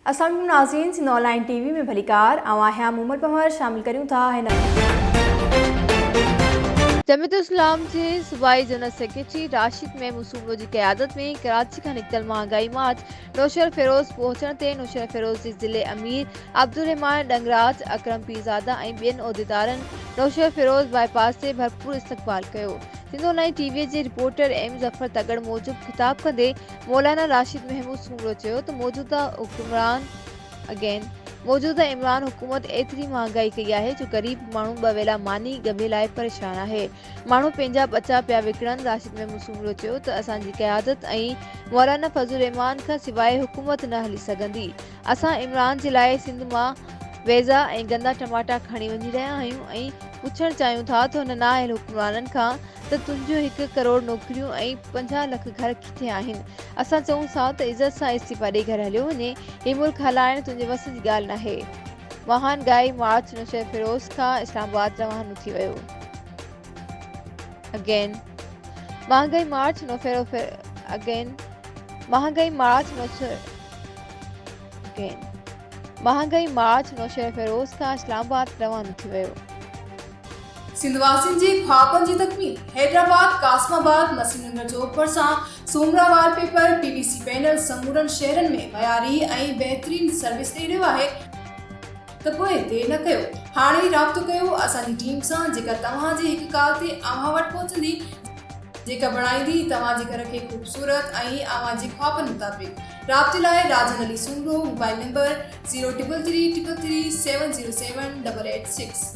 اسلام عليڪم ناظرين Sindh online T V ۾ ڀليڪار آئون آهيان مومل پنهور شامل ڪريون ٿا هن جميعت اسلام جي صوبائي جنرل سيڪريٽري راشد محمود سومرو جي قيادت ۾ ڪراچي کان نڪتل مهانگائي مارچ نوشهروفيروز پهچڻ تي نوشهروفيروز جي ضلعي امير عبدالرحمان ڏنگراج اڪرم پيرزاده ۽ ٻين عهديدارن نوشهروفيروز باء پاس تي ڀرپور استقبال ڪيو Sindh online T V جي رپورٽر ايم ظفر تڳڙ موجب خطاب ڪندي مولانا راشد محمود سومرو چيو ته موجوده حڪمران Again، موجوده عمران حڪومت ايتري مهانگائي ڪئي آهي جو غريب ماڻهو ٻه ويلا ماني ڳڀي لاء پريشان آهي، ماڻهو پنهنجا ٻچا پيا وڪڻن، راشد محمود سومرو چيو ته اسان جي قيادت ۽ مولانا فضل الرحمان کان سواء حڪومت نه هلي سگهندي، اسان عمران جي لاء سنڌ مان ويزا ۽ گندا ٽماٽا کڻي وڃي رهيا آهيون ۽ پڇڻ چاهيون ٿا ته هن نااهل حڪمرانن کان ته تنهنجون هڪ ڪروڙ نوڪريون ۽ پنجاهه لک گهر ٿيا آهن اسان چئون ٿا ته عزت سان استعيفا ڏئي گهر هليو وڃي هي ملڪ هلائڻ تنهنجي وس جي ڳالهه ناهي واهن ڳائي مارچ نوشهرفيروز کان اسلام آباد روانو ٿي ويو اگين مهانگائي مارچ نوشهرفيروزاگين مهانگائي مارچ نوشهرفيروزاگين مهانگائي مارچ نوشهرفيروز کان اسلام آباد روانو ٿي ويو سنڌ واسين جي خوابن جي تڪميل حيدرآباد قاسم آباد مسي نگر چوڪ ڀرسان Soomra wallpaper P V C panel سمورن شهرن ۾ معياري ۽ بهترين سروس ڏئي رهيو آهي ته پوء دير نه ڪيو هاڻي ئي رابطو ڪيو اسان جي ٽيم سان جيڪا توهان جي هڪ ڪال تي اوهان وٽ پهچندي جيڪا بڻائيندي توهان جي گهر کي خوبصورت ۽ اوهان جي خوابن مطابق رابطي لاء Rajan Ali Soomro mobile number zero triple three triple three seven zero seven double eight six